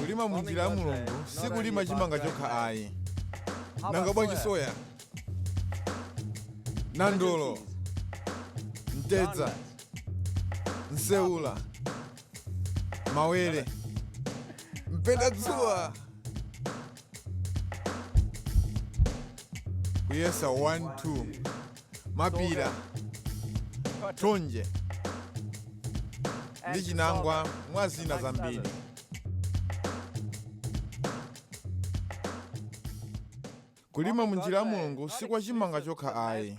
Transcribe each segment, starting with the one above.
kulima mu njira ya mulungu si kulima chimanga chokha ayi nanga bwanji soya nandolo mtedza nseula mawere mpendadzuwa kuyesa 1-2 mapira thonje ndi chinangwa mwa zina zambiri kulima munjira ya mulungu si kwa chimanga chokha ayi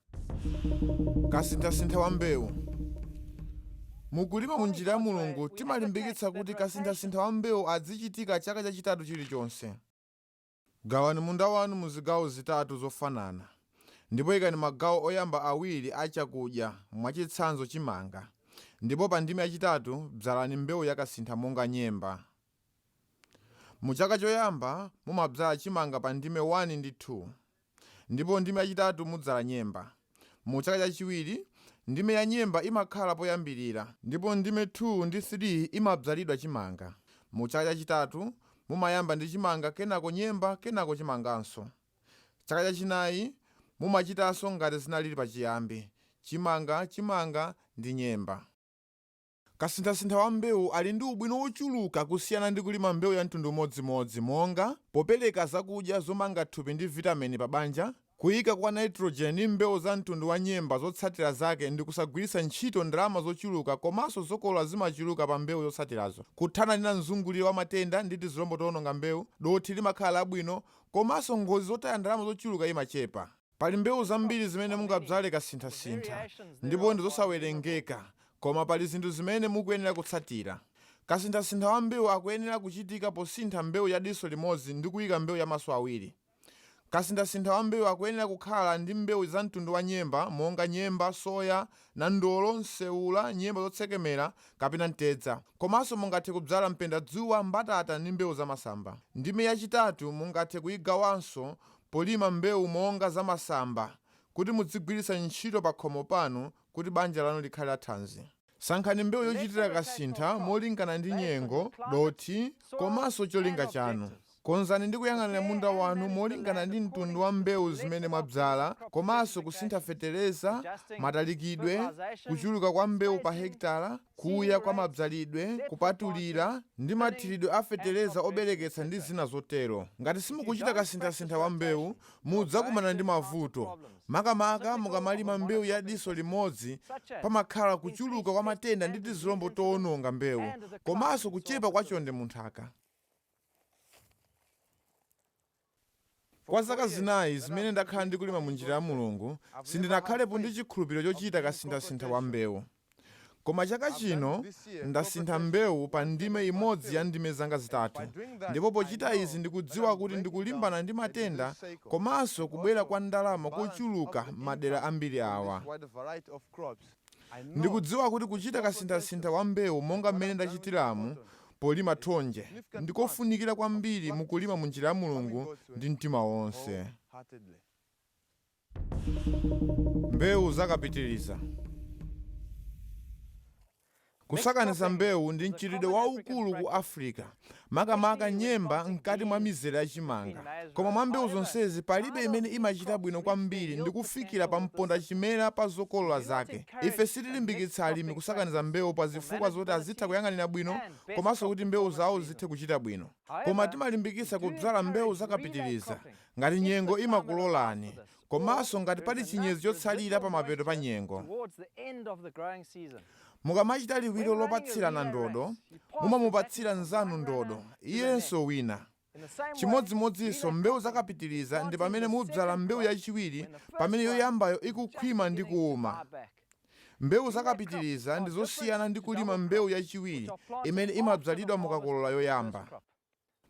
kasinthasintha wa mbewu mukulima mu njira ya mulungu timalimbikitsa kuti kasinthasintha wa mbewu adzichitika chaka chachitatu chilichonse gawani munda wanu mu zigawo zitatu zofanana ndipo ikani magawo oyamba awiri a chakudya mwachitsanzo chimanga ndipo pa ndime yachitatu bzalani mbewu yakasintha monga nyemba mu chaka choyamba mumabzala chimanga pa ndime 1 ndi 2 ndipo ndime yachitatu mudzala nyemba. Mu chaka chachiwiri, ndime ya nyemba imakhala poyambirira ndipo ndime 2 ndi 3 imadzalidwa chimanga. Mu chaka chachitatu, mumayamba ndi chimanga kenako nyemba kenako chimanganso. Chaka chachinayi mumachitanso ngati zinaliri pachiyambi, chimanga, chimanga ndi nyemba. Kasinthasintha wa mbewu ali ndi ubwino wochuluka kusiyana ndi kulima mbewu ya mtundu umodzimodzi monga, popereka zakudya zomanga thupi ndi vitamini pa banja, kuika kwa nitrogen ndi mbewu za mtundu wa nyemba zotsatira zake ndi kusagwiritsa ntchito ndalama zochuluka komanso zokolola zimachuluka pa mbewu zotsatirazo, kuthana ndi mzunguliro wa matenda ndi tizilombo toononga mbewu, dothi limakhala labwino, komanso ngozi zotaya ndalama zochuluka imachepa. Pali mbewu zambiri zimene mungabzale kasinthasintha ndipo ndi zosawerengeka koma pali zinthu zimene mukuyenera kutsatira. Kasinthasintha wa mbewu akuyenera kuchitika posintha mbewu ya diso limodzi ndi kuyika mbewu ya maso awiri. Kasinthasintha wa mbewu akuyenera kukhala ndi mbewu za mtundu wa nyemba monga nyemba, soya, nandolo, nseula, nyemba zotsekemera kapena mtedza. Komanso mungathe kubzala mpendadzuwa, mbatata ndi mbewu za masamba. Ndime yachitatu mungathe kuyigawanso Polima mbewu monga za masamba kuti mudzigwiritsa ntchito pakhomo panu kuti banja lanu likhale la thanzi. Sankhani mbewu yochitira kasintha molingana ndi nyengo, dothi, komanso cholinga chanu. Konzani ndi kuyang'anira munda wanu molingana ndi mtundu wa mbewu zimene mwabzala komanso kusintha feteleza, matalikidwe, kuchuluka kwa mbewu pa hekitala, kuya kwa madzalidwe, kupatulira, ndi mathiridwe a fetereza obereketsa ndi zina zotero. Ngati simukuchita kasinthasintha wa mbewu, mudzakumana ndi mavuto. Makamaka mukamalima mbewu ya diso limodzi pamakhala kuchuluka kwa matenda ndi tizilombo towononga mbewu komanso kuchepa kwa chonde mu nthaka. Kwa zaka zinayi zimene ndakhala ndikulima mu njira ya Mulungu, sindinakhalepo ndi chikhulupiriro chochita kasinthasintha wa mbewu. Koma chaka chino ndasintha mbewu pa ndime imodzi ya ndime zanga zitatu ndipo pochita izi ndikudziwa kuti ndikulimbana ndi matenda komanso kubwera kwa ndalama kochuluka madera ambiri awa. Ndikudziwa kuti kuchita kasinthasintha wa mbewu monga mmene ndachitiramu polima thonje ndi kofunikira kwambiri mu kulima mu njira ya Mulungu ndi mtima wonse. Mbewu za Kapitiriza. Kusakaniza mbewu ndi mchitidwe waukulu ku Africa, makamaka nyemba mkati mwa mizere ya chimanga. Koma mwa mbewu zonsezi palibe imene imachita bwino kwambiri ndi kufikira pamponda chimera pa zokolola zake. Ife sitilimbikitsa alimi kusakaniza mbewu pa zifukwa zoti azitha kuyang'anira bwino komanso kuti mbewu zawo zithe kuchita bwino. Koma timalimbikitsa kudzala mbewu za kapitiriza, ngati nyengo imakulolani, komanso ngati pali chinyezi chotsalira pamapeto pa nyengo. Mukamachita liwiro lopatsirana ndodo, mumamupatsira mnzanu ndodo, iyenso wina. Chimodzimodzinso mbewu za kapitiriza ndi pamene mudzala mbewu yachiwiri pamene yoyambayo ikukhwima ndi kuuma. Mbewu za kapitiriza ndi zosiyana ndi kulima mbewu yachiwiri imene imadzalidwa mukakolola yoyamba.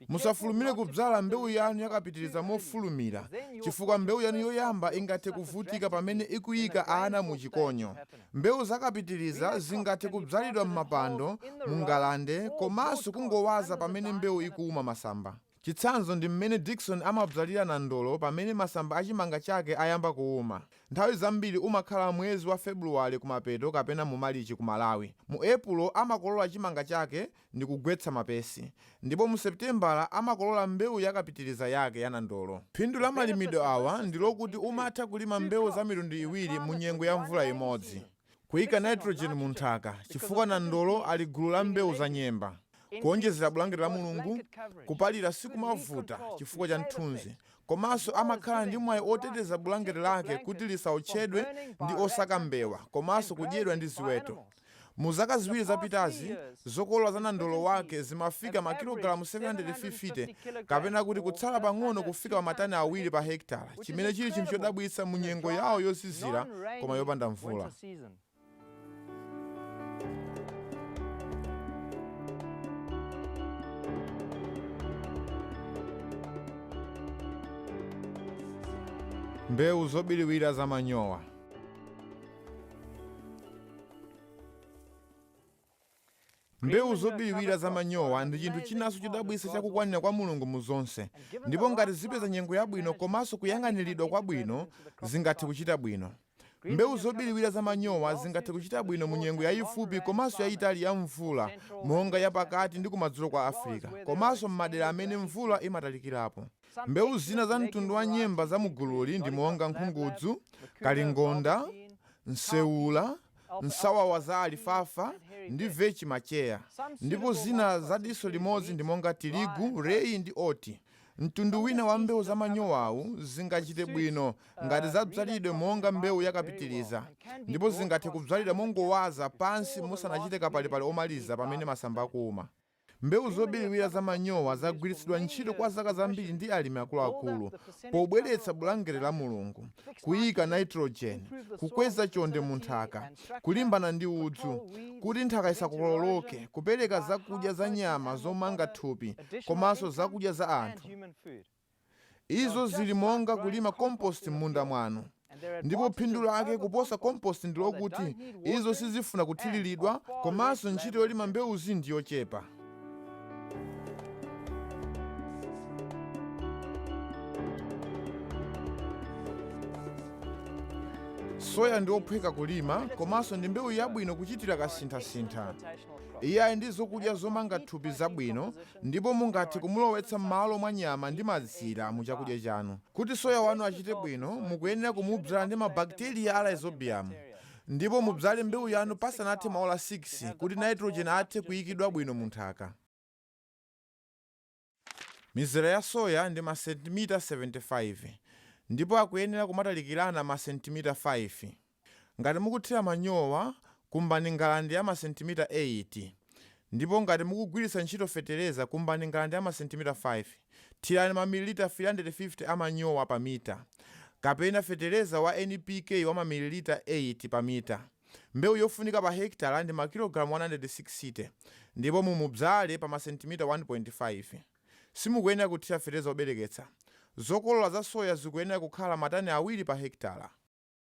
Musafulumire kudzala mbewu yanu yakapitiriza mofulumira chifukwa mbewu yanu yoyamba ingathe kuvutika pamene ikuyika ana mu chikonyo. Mbewu za kapitiriza zingathe kudzalidwa m'mapando, mu ngalande komanso kungowaza pamene mbewu ikuwuma masamba. Chitsanzo ndi mmene Dickson amadzalira nandolo pamene masamba a chimanga chake ayamba kuwuma. Nthawi zambiri umakhala mwezi wa Febuluwale kumapeto kapena mu Malichi ku Malawi. Mu Epulo amakolola chimanga chake ndi kugwetsa mapesi, ndipo mu Seputembala amakolola mbewu ya kapitiriza yake ya nandolo. Phindu la malimidwe awa ndi lokuti umatha kulima mbewu za mitundu iwiri mu nyengo ya mvula imodzi. Kuika nitrogen mu nthaka, chifukwa nandolo ali gulu la mbewu za nyemba. Kuonjezera bulangeti la Mulungu, kupalira sikumavuta chifukwa cha mthunzi, komanso amakhala ndi mwayi oteteza bulangeti lake kuti lisaotchedwe ndi osaka mbewa komanso kudyedwa ndi ziweto. Mu zaka ziwiri zapitazi, zokolola za nandolo wake zimafika makilogalamu 750, kapena kuti kutsala pang'ono kufika pa matani awiri pa hekitala, chimene chili chinthu chodabwitsa mu nyengo yawo yozizira koma yopanda mvula. Mbewu zobiriwira za manyowa. mbewu zobiriwira za manyowa ndi chinthu chinanso chodabwitsa chakukwanira kwa mulungu mu zonse ndipo ngati zipeza nyengo yabwino komanso kuyang'aniridwa kwabwino zingathe kuchita bwino mbewu zobiriwira za manyowa zingathe kuchita bwino mu nyengo yayifupi komanso yayitali ya mvula monga yapakati ndi kumadzulo kwa africa komanso m'madera amene mvula imatalikirapo Mbewu zina za mtundu wa nyemba za mu gululi ndi monga nkhungudzu, kalingonda, nseula, nsawawa za alifafa ndi vechi macheya ndipo zina za diso limodzi ndi monga tirigu, reyi ndi oti. Mtundu wina wa mbewu za manyowawu zingachite bwino ngati zadzalidwe monga mbewu yakapitiriza ndipo zingathe kudzalidwa mongowaza pansi musanachite kapalipali omaliza pamene masamba akuuma. Mbewu zobiriwira za manyowa zagwiritsidwa ntchito kwa zaka zambiri ndi alimi akuluakulu pobweretsa bulangete la Mulungu, kuika nitrogen, kukweza chonde mu nthaka, kulimbana ndi udzu, kuti nthaka isakokoloke, kupereka zakudya za nyama zomanga thupi, komanso zakudya za anthu. Izo zili monga kulima komposti mmunda mwanu. Ndipo phindu lake kuposa komposti ndilokuti izo sizifuna kuthiriridwa komanso ntchito yolima mbewuzi ndi yochepa. Soya ndi ophweka kulima komanso ndi mbewu yabwino kuchitira kasinthasintha. Iye ali ndi zokudya zomanga thupi zabwino ndipo mungathe kumulowetsa m'malo mwa nyama ndi mazira mu chakudya chanu. Kuti soya wanu achite bwino, mukuyenera kumubzala ndi mabakteriya a Rhizobium, ndipo mubzale mbewu yanu pasanathe maola 6 kuti nitrogen athe kuyikidwa bwino mu nthaka. Mizera ya soya ndi masentimita 75, ndipo akuyenera kumatalikirana masentimita 5. Ngati mukuthira manyowa, kumbani ngalande ya masentimita 8 ndipo ngati mukugwiritsa ntchito fetereza kumbani ngalande ya masentimita 5. Thirani mamililita 350 a manyowa pa mita kapena fetereza wa NPK wa mamililita 8 pa mita. Mbewu yofunika pa hekitala ndi makilogalamu 160 ndipo mumubzale pa masentimita 1.5. Simukuyenera kuthira fetereza wobereketsa. Zokolola za soya zikuyenera kukhala matani awiri pa hekitala.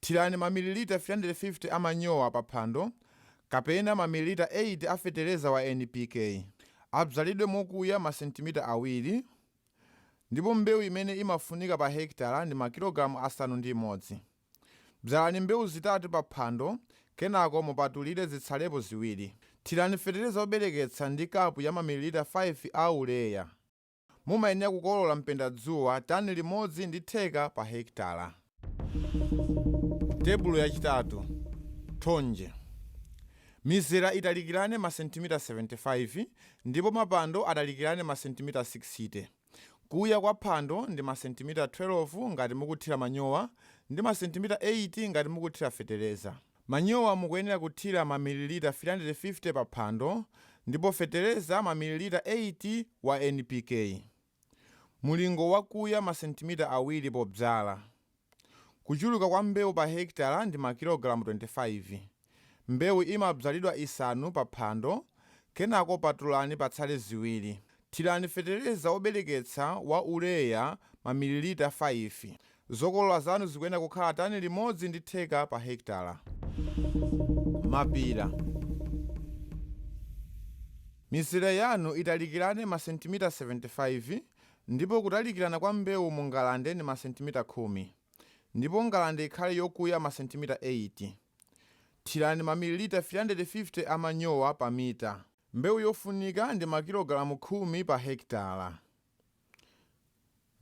Thirani mamililita 350 a manyowa pa phando kapena mamililita 8 a fetereza wa NPK. Abzalidwe mokuya masentimita awiri ndipo mbewu imene imafunika pa hekitala ndi makilogalamu asanu ndi imodzi. Bzalani mbewu zitatu pa phando kenako mupatulire zitsalepo ziwiri. Thirani fetereza wobereketsa ndi kapu ya mamililita 5 a urea. Mumayenera kukolola mpendadzuwa tani limodzi ndi theka pa hekitala. Tebulo yachitatu, Thonje Mizera italikirane masentimita 75 ndipo mapando atalikirane masentimita 60. Kuya kwa phando ndi masentimita 12 ngati mukuthira manyowa ndi masentimita 8 ngati mukuthira feteleza. Manyowa mukuyenera kuthira mamililita 350 pa phando ndipo fetereza mamililita 8 wa NPK, mulingo wakuya masentimita awiri pobzala. Kuchuluka kwa mbewu pa hekitala ndi makilogalamu 25. Mbewu imabzalidwa isanu pa phando kenako patulani patsale ziwiri. Thirani fetereza wobereketsa wa urea mamililita 5. Zokolola zanu zikuyenera kukhala tani limodzi ndi theka pa hekitala. Mapira, Mizere yanu italikirane masentimita 75 ndipo kutalikirana kwa mbewu mu ngalande ndi masentimita khumi ndipo ngalande ikhale yokuya masentimita 8. Thirani mamililita 350 a manyowa pa mita. Mbewu yofunika ndi makilogalamu khumi pa hekitala.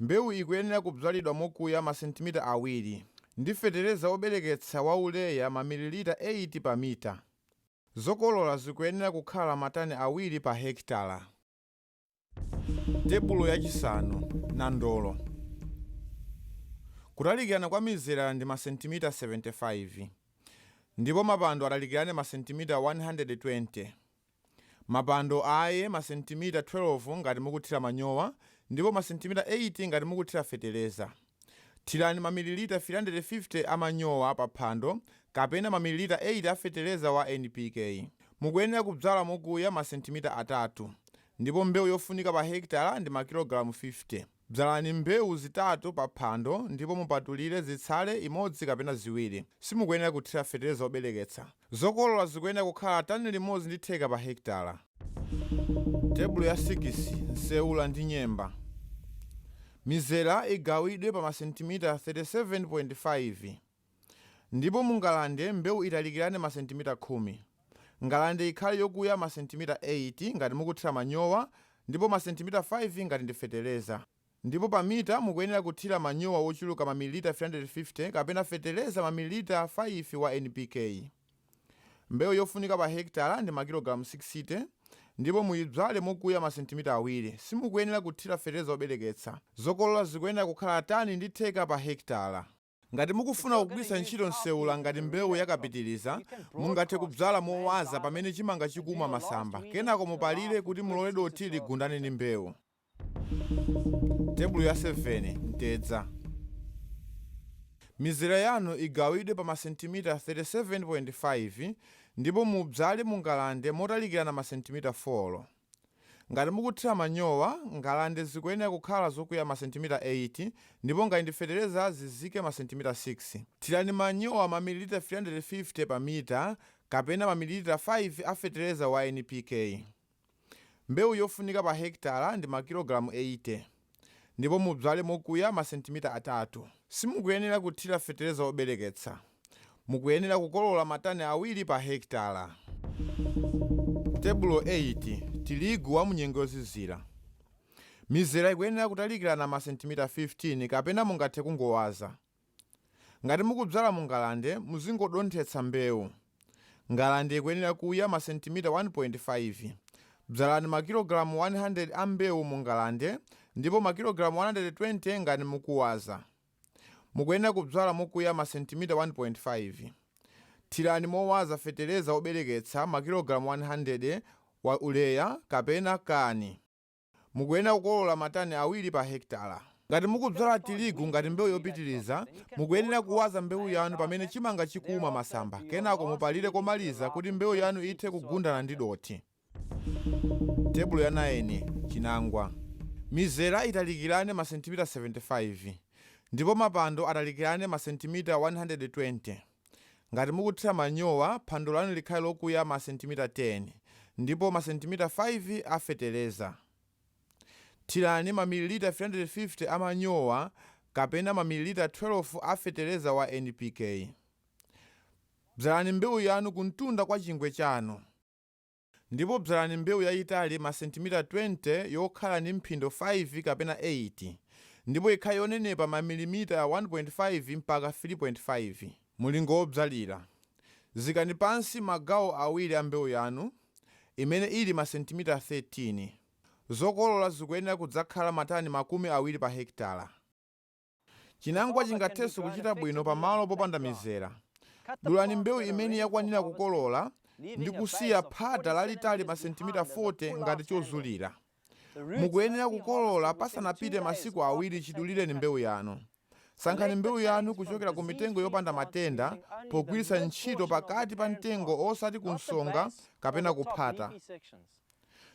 Mbewu ikuyenera kubzalidwa mokuya masentimita awiri ndi fetereza wobereketsa wa urea mamililita 8 pa mita. Zokolola zikuyenera kukhala matani awiri pa hekitala. tebulo yachisanu nandolo kutalikirana kwa mizera ndi masentimita 75 ndipo mapando atalikirane masentimita 120 mapando aye masentimita 12 ngati mukuthira manyowa ndipo masentimita 8 ngati mukuthira feteleza Thirani mamililita 350 a manyowa pa phando kapena mamililita 8 a fetereza wa NPK. Mukuyenera kubzala mokuya masentimita atatu ndipo mbewu yofunika pa hekitala ndi makilogalamu 50. Bzalani mbewu zitatu pa phando ndipo mupatulire zitsale imodzi kapena ziwiri. Simukuyenera kuthira fetereza wobereketsa. Zokolola zikuyenera kukhala tani limodzi ndi theka pa hekitala. Tebulo ya sikisi, Nseula ndi nyemba. Mizera igawidwe pa masentimita 37.5 ndipo mu ngalande mbewu italikirane masentimita khumi. Ngalande ikhale yokuya masentimita 8 ngati mukuthira manyowa ndipo masentimita 5 ngati ndi fetereza. Ndipo pa mita mukuyenera kuthira manyowa wochuluka mamililita 350 kapena fetereza mamililita 5 wa NPK. Mbewu yofunika pa hekitala ndi makilogalamu 60 ndipo muyibzale mokuya masentimita awiri. Simukuyenera kuthira fetereza wobereketsa. Zokolola zikuyenera kukhala tani ndi theka pa hekitala. Ngati mukufuna kugwiritsa ntchito nseula ngati mbewu yakapitiriza, mungathe kubzala mowaza pamene chimanga chikuuma masamba kenako mupalire kuti mulole dothi ligundane ndi mbewu. Tebulo ya 7, mtedza. Mizera yanu igawidwe pa masentimita 37.5 ndipo mubzale mu ngalande motalikirana masentimita 4. Ngati mukuthira manyowa, ngalande zikuyenera kukhala zokuya masentimita 8 ndipo ngati ndi fetereza zizike masentimita 6. Thirani manyowa mamililita 350 pa mita kapena mamililita 5 a fetereza wa NPK. Mbewu yofunika pa hekitala ndi makilogalamu 80. ndipo mubzale mokuya masentimita atatu. Simukuyenera kuthira fetereza wobereketsa. Mukuyenera kukolola matani awiri pa hekitala. Tebulo 8. Tirigu wa munyengo yozizira. Mizera ikuyenera kutalikirana masentimita 15 kapena mungathe kungowaza. Ngati mukubzala mu ngalande, muzingodonthetsa mbewu. Ngalande ikuyenera kuya masentimita 1.5. Bzalani makilogalamu 100 a mbewu mu ngalande ndipo makilogalamu 120 ngati mukuwaza. Mukuyenera kubzala mokuya masentimita 1.5. Thirani mowaza fetereza wobereketsa makilogalamu 100 wa urea kapena kani. Mukuyenera kukolola matani awiri pa hekitala. Ngati mukubzala tirigu ngati mbewu yopitiriza, mukuyenera kuwaza mbewu yanu pamene chimanga chikuuma masamba kenako mupalire komaliza kuti mbewu yanu ithe kugundana ndi dothi. Tebulo ya 9, Chinangwa. Mizera italikirane masentimita 75 ndipo mapando atalikirane masentimita 120. Ngati mukuthira manyowa, phando lanu likhale lokuya masentimita 10 ndipo masentimita 5 a fetereza. Thirani mamililita 350 a manyowa kapena mamililita 12 a fetereza wa NPK. Bzalani mbewu yanu kumtunda kwa chingwe chanu. Ndipo bzalani mbewu yayitali masentimita 20 yokhala ndi mphindo 5 kapena 8 ndipo ikhale yonenepa mamilimita 1.5 mpaka 3.5. Mulingo wobzalira, Zikani pansi magawo awiri a mbewu yanu imene ili masentimita 13. Zokolola zikuyenera kudzakhala matani makumi awiri pa hekitala. Chinangwa chingathenso kuchita bwino pa malo popanda mizera. Dulani mbewu imene yakwanira kukolola ndi kusiya phata lalitali masentimita 40 ngati chozulira. Mukuyenera kukolola pasanapite masiku awiri chidulireni mbewu yanu. Sankhani mbewu yanu kuchokera ku mitengo yopanda matenda pogwiritsa ntchito pakati pa mtengo osati kunsonga kapena kuphata.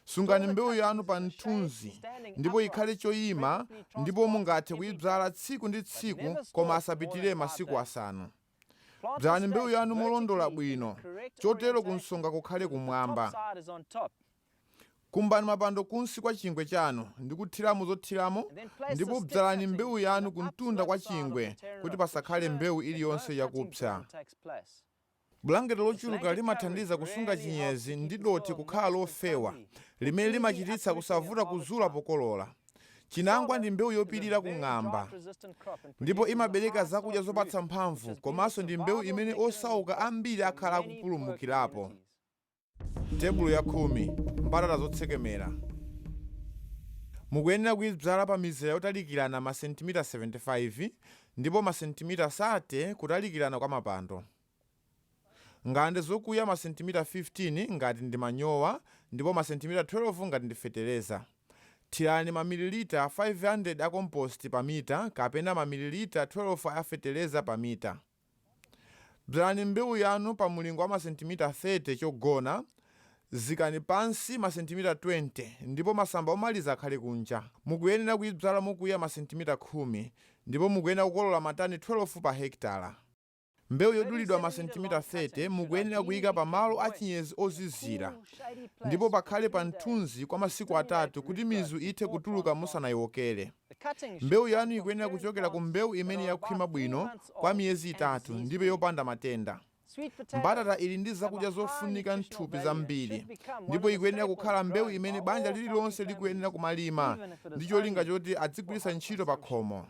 Sungani mbewu yanu pa mthunzi ndipo ikhale choyima ndipo mungathe kuyidzala tsiku ndi tsiku koma asapitire masiku asanu. Dzalani mbewu yanu molondola bwino chotero kunsonga kukhale kumwamba. Kumbani mapando kunsi kwa chingwe chanu ndi kuthiramo zothiramo ndipo dzalani mbewu yanu kumtunda kwa chingwe kuti pasakhale mbewu iliyonse yakupsa. Bulangeti lochuluka limathandiza kusunga chinyezi ndi dothi kukhala lofewa, limene limachititsa kusavuta kuzula pokolola. Chinangwa ndi mbewu yopirira ku ng'amba ndipo imabereka zakudya zopatsa mphamvu komanso ndi mbewu imene osauka ambiri akhala akupulumukirapo. Tebulo ya khumi, mbatata zotsekemera, mukuyenera kuyidzala pa mizera yotalikirana masentimita 75 ndipo masentimita 30 kutalikirana kwa mapando. Ngalande zokuya masentimita 15 ngati ndi manyowa ndipo masentimita 12 ngati ndi fetereza. Thirani mamililita 500 a kompositi pa mita kapena mamililita 12 a fetereza pa mita. Bzalani mbewu yanu pa mulingo wa masentimita 30 chogona, zikani pansi masentimita 20 ndipo masamba omaliza akhale kunja. Mukuyenera kuibzala mokuya masentimita khumi ndipo mukuyenera kukolola matani 12 pa hekitala. Mbewu yodulidwa masentimita 30 mukuyenera kuika pa malo a chinyezi ozizira ndipo pakhale pa mthunzi kwa masiku atatu kuti mizu ithe kutuluka musanaiwokere. Mbewu yanu ikuyenera kuchokera ku mbewu imene yakhwima bwino kwa miyezi itatu ndipo yopanda matenda. Mbatata ili ndi zakudya zofunika m'thupi zambiri ndipo ikuyenera kukhala mbewu imene banja lililonse likuyenera kumalima ndi cholinga choti adzigwiritsa ntchito pakhomo.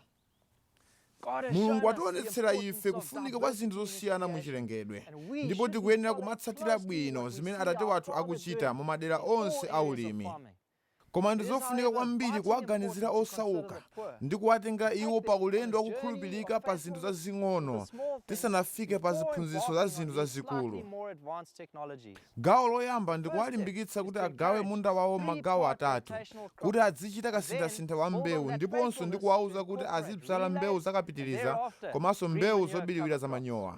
Mulungu wationetsera ife kufunika kwa zinthu zosiyana mu chilengedwe ndipo tikuyenera kumatsatira bwino zimene Atate wathu akuchita mu madera onse a ulimi. Koma ndi zofunika kwambiri kuwaganizira osauka ndi kuwatengera iwo pa ulendo wa kukhulupirika pa zinthu zazing'ono tisanafike pa ziphunzitso za zinthu zazikulu. Gawo loyamba ndi kuwalimbikitsa kuti agawe munda wawo magawo atatu, kuti adzichita kasinthasintha wa mbewu ndiponso ndi kuwauza kuti azidzala mbewu za kapitiriza komanso mbewu zobiriwira za manyowa.